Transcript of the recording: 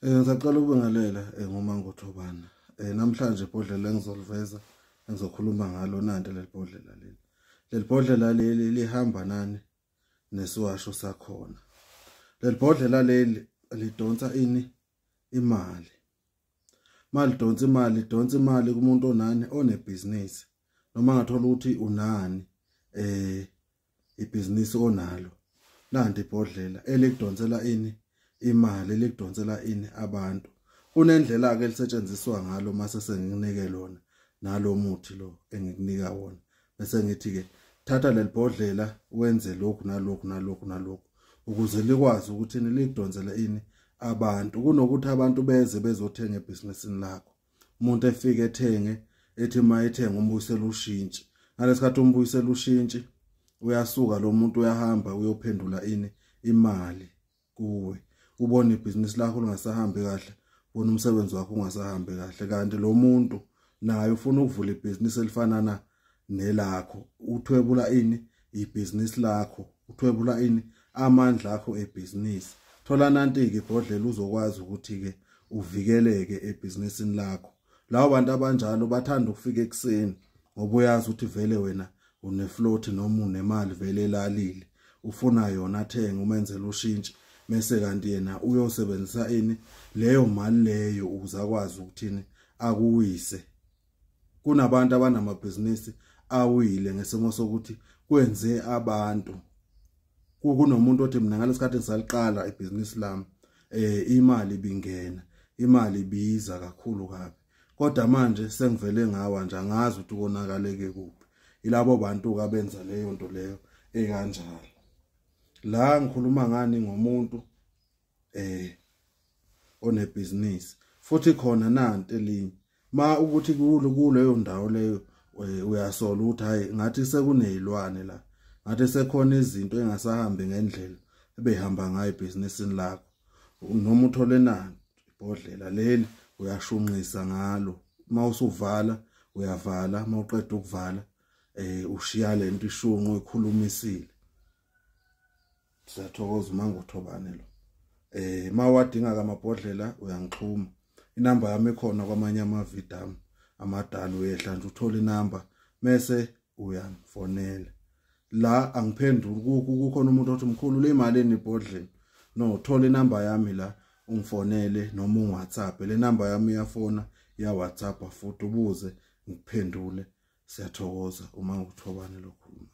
Eh ngisacela ukubingelela eh, ngomangothobana. Eh namhlanje ibhodlela engizoliveza engizokhuluma ngalo nanti lelibhodlela leli. Lelibhodlela leli lihamba nani nesiwasho sakhona. Lelibhodlela leli lidonsa ini imali. Mali donsa imali, donsa imali kumuntu onani onebhizinisi. Noma ngathola ukuthi unani eh ibhizinisi onalo nanti ibhodlela elikudonsela ini imali elikudonsela ini abantu kunendlela ke elisetshenziswa ngalo mase senginike lona nalo muthi lo engikunika wona bese ngithi ke thatha lelibhodlela wenze lokhu nalokhu nalokhu nalokhu ukuze likwazi ukuthi nilidonsele ini abantu kunokuthi abantu beze bezothenga ebhizinisini lakho umuntu efike ethenge ethi uma ethenga umbuyisela ushintshi ngalesikhathi umbuyisela ushintshi uyasuka lo muntu uyahamba uyophendula ini imali kuwe ubona ibhizinisi lakho lingasahambi kahle ubona umsebenzi wakho ungasahambi kahle kanti lo muntu naye ufuna ukuvula ibhizinisi elifana na nelakho uthwebula ini ibhizinisi lakho uthwebula ini amandla akho ebhizinisi thola nanti-ke ibhodlela uzokwazi ukuthi-ke uvikeleke ebhizinisini lakho labo bantu abanjalo bathanda ukufika ekuseni ngoba uyazi ukuthi vele wena unefloat noma unemali vele elalile ufuna yona athenge umenzela ushintshi mese kanti yena uyosebenzisa ini leyo mali leyo ukuze akwazi ukuthini akuwise kunabantu abanamabhizinisi awile ngesimo sokuthi kwenze abantu kunomuntu othi mina ngalesikhathi ngisaliqala ibhizinisi lami eh imali bingena imali biza kakhulu kabi kodwa manje sengivele ngawa nje angazi ukuthi konakaleke kuphi ilabo bantu ka benza leyo nto leyo ekanjalo la ngikhuluma ngani ngomuntu eh onebhizinisi futhi khona nanti elinye ma ukuthi kulo kuleyo ndawo leyo eh, uyasola ukuthi hayi ngathi sekunezilwane la ngathi sekhona izinto engasahambi ngendlela ebehamba ngayo ibhizinisini lakho noma uthole nani ibhodlela leli uyashunqisa ngalo uma usuvala uyavala uma uqeda ukuvala eh ushiya lento ishunqo ekhulumisile siyathokoza umangothobane lo eh mawadinga kamabhodlela uyangixhuma inamba yami ekhona kwamanye amavidam amadala uyehla nje uthole inamba mese uyangifonela la angiphenduli kuku kukhona umuntu othi mkhulu le imali enibhodlela no thola inamba yami la ungifonele noma ungiwhatsapp le namba yami iyafona ya whatsapp futhi ubuze ngiphendule siyathokoza uma ngikuthobane lokhuluma